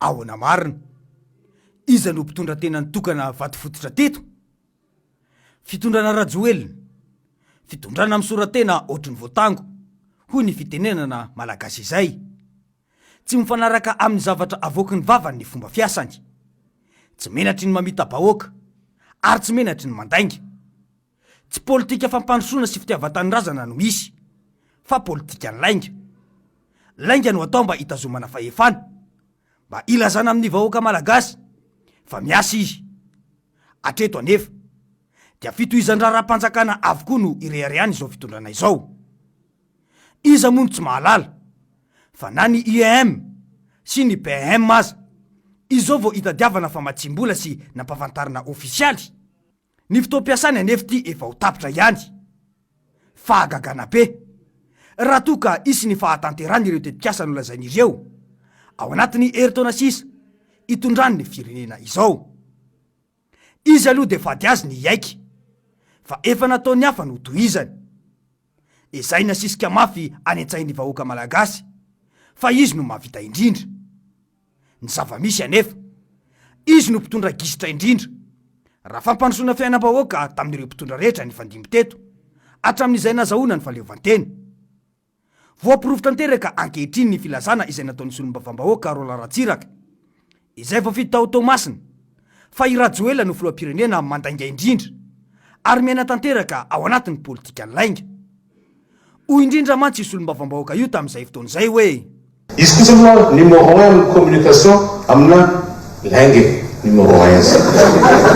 Ahoana marina? Iza no mpitondra tena nitokana vato fototra teto? Fitondrana Rajoelina, fitondrana misora-tena ohatry ny voatango, hoy ny fitenenana malagasy izay. Tsy mifanaraka amin'ny zavatra avoaky ny vavany ny fomba fiasany. Tsy menatry ny mamita-bahoaka, ary tsy menatry ny mandainga. Tsy politika fampandrosoana sy fitiavan-tanindrazana no misy, fa politikan'ny lainga. Lainga no atao mba hitazomana fahefana, mba hilazana amin'ny vahoaka malagasy fa miasa izy. Hatreto anefa, dia fitohizan-draharaham-panjakana avokoa no ireharehany izao fitondrana izao. Iza moa no tsy mahalala fa na ny IEM sy ny BEM aza izao vao itadiavana famatsiam-bola sy nampafantarina ofisialy? Ny fotoam-piasany anefa ity efa ho tapitra ihany. Fahagagana be! Raha toa ka hisy ny fahatanterana ireo tetikasa nolazainy ireo ao anatin'ny herintaona sisa itondran'ny firenena izao. Izy aloha dia vady azy ny hiaiky, fa efa nataon'ny hafa ny ho tohizany. Ezahina asisika mafy any an-tsain'ny vahoaka malagasy fa izy no mahavita indrindra. Ny zava-misy anefa, izy no mpitondra gisitra indrindra. Raha fampandrosoana fiainam-bahoaka tamin'ireo mpitondra rehetra nifandimby teto, hatramin'izay nazahoana ny fahaleovantena. Voaporofo tanteraka ankehitriny ny filazana izay nataon'ny solombavambahoaka Roland Ratsiraka, izay voafidy tao Toamasina, fa i Rajoelina no filoham-pirenena mandainga indrindra ary miaina tanteraka ao anatin'ny politikan'ny lainga. Hoy indrindra mantsy io solombavambahoaka io tamin'izay fotoana izay hoe. Izy kosa moa numéro un amin'ny communication amina lainga e! Numéro un izy.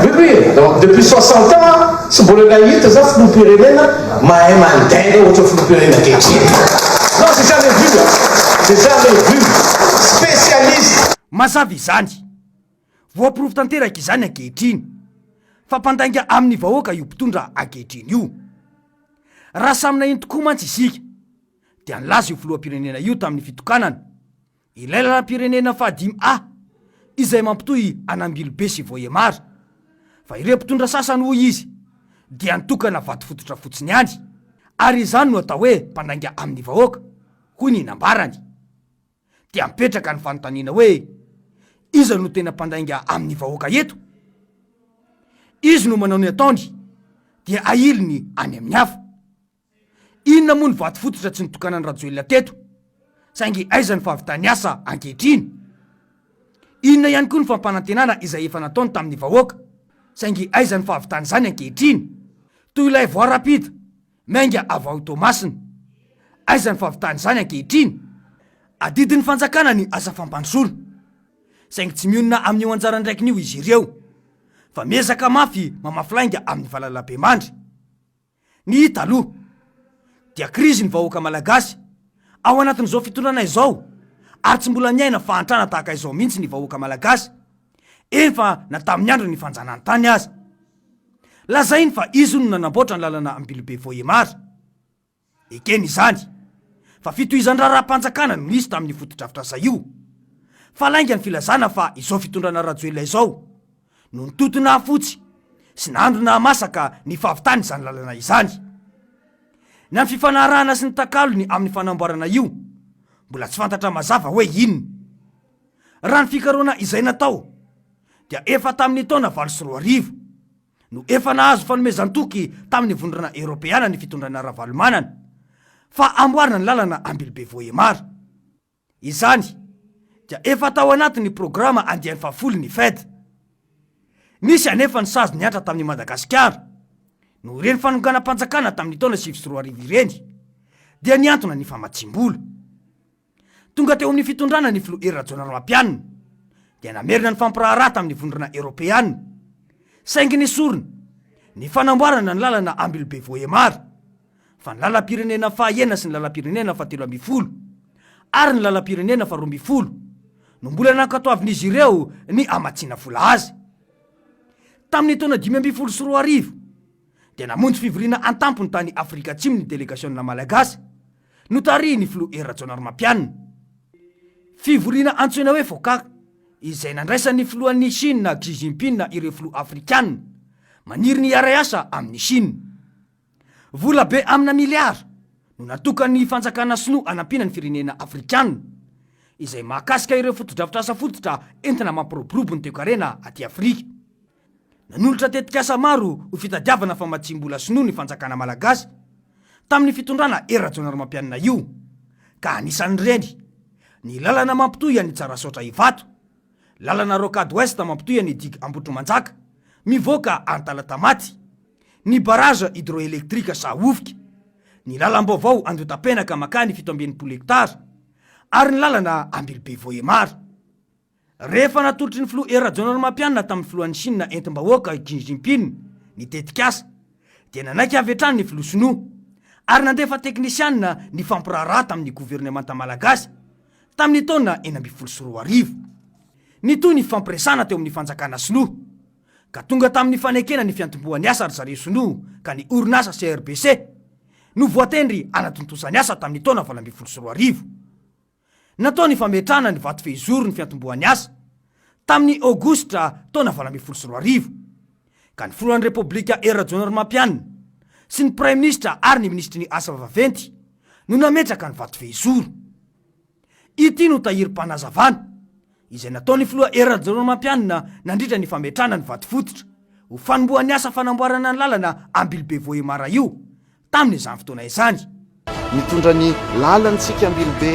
Oui oui donc depuis soixante ans tsy mbola nahita za filoham-pirenena mahay mandainga ohatran'ny filoham-pirenena ankehitriny. Non j'ai jamais vu a! J'ai jamais vu! Spécialiste! Mazava izany! Voaporofo tanteraka izany ankehitriny fa mpandainga amin'ny vahoaka io mpitondra ankehitriny io. Raha samy naheno tokoa mantsy isika. dia nilaza io filoham-pirenena io tamin'ny fitokanana ilay lalam-pirenena fahadimy A izay mampitohy an'Ambilobe sy Vohemar fa ireo mpitondra sasany hoy izy dia nitokana vato fototra fotsiny ihany ary izany no atao hoe mpandainga amin'ny vahoaka hoy ny nambarany dia mipetraka ny fanontaniana hoe iza no tena mpandainga amin'ny vahoaka eto? izy no manao ny ataony dia ahiliny any amin'ny hafa. Inona moa ny vato fototra tsy nitokanan'i Rajoelina teto? Saingy aiza ny fahavitan'ny asa ankehitriny? Inona ihany koa ny fampanantenana izay efa nataony tamin'ny vahoaka? Saingy aiza ny fahavitan'izany ankehitriny? Toy ilay voie rapide, miainga avy ao Toamasina. Aiza ny fahavitan'izany ankehitriny? Adidin'ny fanjakana ny asa fampandrosoana. Saingy tsy mionona amin'io anjara andraikiny io izy ireo, fa miezaka mafy mamafy lainga amin'ny valalabemandry. Ny hita aloha dia krizy ny vahoaka malagasy ao anatin'izao fitondrana izao ary tsy mbola niaina fahantrana tahaka izao mihitsy ny vahoaka malagasy efa na tamin'ny andron'ny fanjanahantany aza. Lazainy fa izy no nanamboatra ny lalana Ambilobe Vohemar. Ekena izany fa fitohizan-draharaham-panjakana no nisy tamin'io fotodrafitrasa io. Fa lainga ny filazana fa izao fitondrana Rajoelina izao, no nitoto nahafotsy sy nandro nahamasaka ny fahavitan' izany lalana izany. Ny amin' ny fifanarahana sy ny takalony amin' ny fanamboarana io, mbola tsy fantatra mazava hoe inona. Raha ny fikarohana izay natao, dia efa tamin' ny taona valo sy roa arivo no efa nahazo fanomezan-toky tamin' ny Vondrona Eorôpeana ny fitondrana Ravalomanana fa hamboarina ny lalana Ambilobe-Vohémar. Izany dia efa tao anatin'ny programa andiany fahafolo ny Fed. Nisy anefa ny sazy nihatra tamin'i Madagasikara, noho ireny fanonganam-panjakana tamin'ny taona sivy sy roa arivo ireny, dia nihantona ny famatsiam-bola. Tonga teo amin'ny fitondrana ny filoha Hery Rajaonarimampianina, dia namerina ny fampiraharaha tamin'ny Vondrona Eoropeana, saingy nesorina ny fanamboarana ny lalana Ambilobe-Vohémar. fa ny lalam-pirenena faha enina sy ny lalam-pirenena faha telo ambin'ny folo ary ny lalam-pirenena faha roa ambin'ny folo no mbola nankatoavin'izy ireo ny hamatsiana vola azy. Tamin'ny taona dimy ambin'ny folo sy roa arivo dia namonjy fivoriana an-tampony tany Afrika Atsimo ny delegasiona malagasy notarihin'ny filoha Hery Rajaonarimampianina. Fivoriana antsoina hoe FOCAC izay nandraisan'ny filohan'ny Shina Xi Jinping ireo filoha afrikanina maniry ny hiara-hiasa amin'i Shina. Vola be amina miliara no natokan'ny fanjakana sinoa hanampiana ny firenena afrikanina izay mahakasika ireo fotodrafitrasa fototra entina mampiroborobo ny toekarena aty Afrika. Nanolotra tetikasa maro ho fitadiavana famatsiam-bola sinoa ny fanjakana malagasy tamin'ny fitondrana Hery Rajaonarimampianina io ka anisan'ireny ny lalana mampitohy an'i Tsarasaotra Ivato, Lalana Rocade Ouest mampitohy an'i Digue Ambohitrimanjaka, mivoaka any Talatamaty. Ny barrage hydroélectrique Sahovika. Ny lalam-baovao Andohatapenaka makany fito amby enimpolo hectares, ary ny lalana Ambilobe-Vohémar. Rehefa natolotry ny filoha Hery Rajaonarimampianina tamin'ny filohan'i Shina entim-bahoaka i Xi Jinping ny tetikasa, dia nanaiky avy hatrany ny filoha sinoa, ary nandefa teknisianina nifampiraharaha tamin'ny governemanta malagasy tamin'ny taona enina ambin'ny folo sy roa arivo. Nitohy ny fifampiresahana teo amin'ny fanjakana sinoa, ka tonga tamin'ny fanekena ny fiantombohan'ny asa ry zareo sinoa ka ny orinasa CRBC no voatendry hanatontosa ny asa tamin'ny taona valo ambin'ny folo sy roa arivo. Natao ny fametrahana ny vato fehizoro ny fiantombohan'ny asa, tamin'ny Aogositra taona valo ambin'ny folo sy roa arivo. ka ny Filohan'ny Repoblika Hery Rajaonarimampianina sy ny Praiminisitra ary ny Minisitry ny Asa Vaventy no nametraka ny vatovehizoro. Ity no tahirim-panazavana izay nataon'ny Filoha Hery Rajaonarimampianina nandritra ny fametrahana ny vatofototra ho fanombohan'ny asa fanamboarana ny lalana Ambilobe-Vohémar io Tamin' izany fotoana izany. Mitondra ny lalan' tsika Ambilobe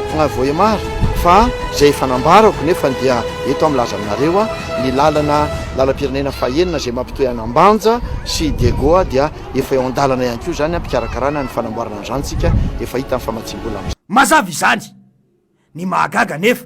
Fagnahy Voahemarra fa izay efa nambarako nefa dia eto aho milaza aminareo ny lalana lalam-pirenena faha enina izay mampitohy an' Ambanja sy Diagoa dia efa eo an-dalana ihany koa izany am-pikarakarana ny fanamboarana an' izany tsika efa hita ny famatsiam-bola amin' Mazava izany. Ny mahagaga anefa.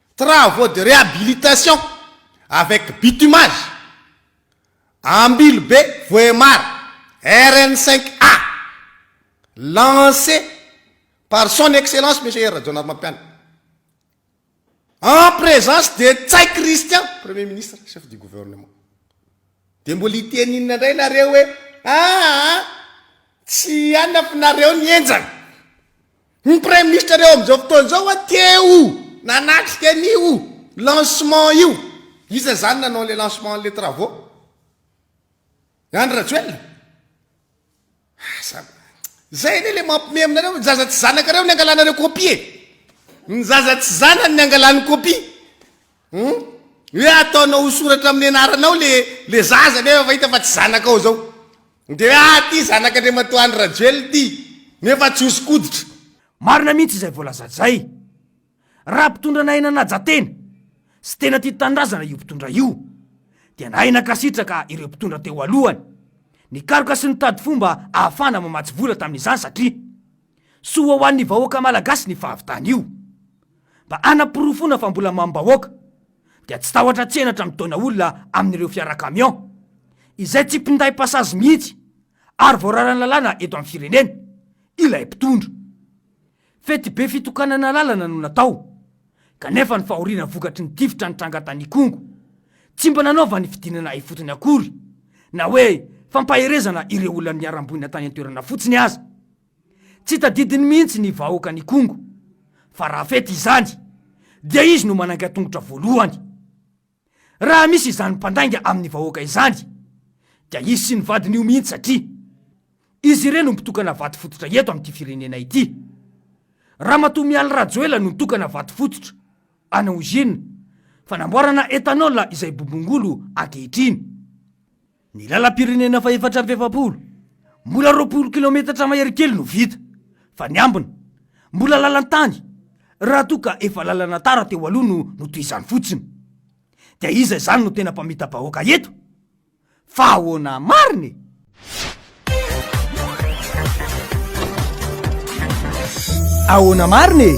Travaux de réhabilitation avec bitumage, Ambilobe Vohemar, RN cinq A, lancé par Son Excellence Monsieur Hery Rajaonarimampianina, en présence de Ntsay Christian, Premier Ministre, Chef du Gouvernement. Dia mbola hiteny inona indray nareo hoe aa tsy hanafinareo ny henjana. Ny Praiminisitra reo amin'izao fotoana izao wa teo nanatrika an'io lancement io. Iza izany nanao ilay lancement an'ilay travaux? I Andry Rajoelina? Asa, izay anie ilay mampime aminareo, ny zaza tsy zanakareo no niangalanareo copie e! Ny zaza tsy zanany niangalany copie. Hum? Hoe ataonao ho soratra amin'ny anaranao le le zaza nefa efa hita fa tsy zanakao zao. Dia hoe ah ty zanak'Andriamatoa Andry Rajoelina ty nefa tsy hoso-koditra. Marina mihitsy izay voalazajay. Raha mpitondra nahay nanaja tena sy tena tia tanindrazana io mpitondra io dia nahay nankasitraka ireo mpitondra teo alohany nikaroka sy nitady fomba ahafahana mamatsy vola tamin'izany satria soa ho an'ny vahoaka malagasy ny fahavitany io. Mba hanaporofoana fa mbola mamim-bahoaka dia tsy tahotra tsenatra midona olona amin'ireo fiara camion izay tsy mpinday passage mihitsy ary voararan'ny lalàna eto amin'ny firenena ilay mpitondra. Fety be fitokanana lalana no natao kanefa ny fahoriana vokatry ny tifitra nitranga tany Ikongo tsy mba nanaovany fidinana ifotony akory na hoe fampaherezana ireo olona niharam-boina tany an-toerana fotsiny aza. Tsy tadidiny mihitsy ny vahoakan'i Kongo fa raha fety izany dia izy no manangan-tongotra voalohany. Raha misy izany mpandainga amin'ny vahoaka izany dia izy sy ny vadiny io mihitsy satria izy ireo no mpitokana vato fototra eto amin'ity firenena ity. Ramatoa Mialy Rajoela no nitokana vato fototra ana usine fanamboarana ethanol izay bobongolo ankehitriny. Ny lalam-pirenena fahefatra amby efapolo, mbola roapolo kilaometatra mahery kely no vita, fa ny ambiny, mbola lalan-tany, raha toa ka efa lalana tara teo aloha no notohizany fotsiny. Dia iza izany no tena mpamita-bahoaka eto? Fa ahoana marina e? Ahoana marina e?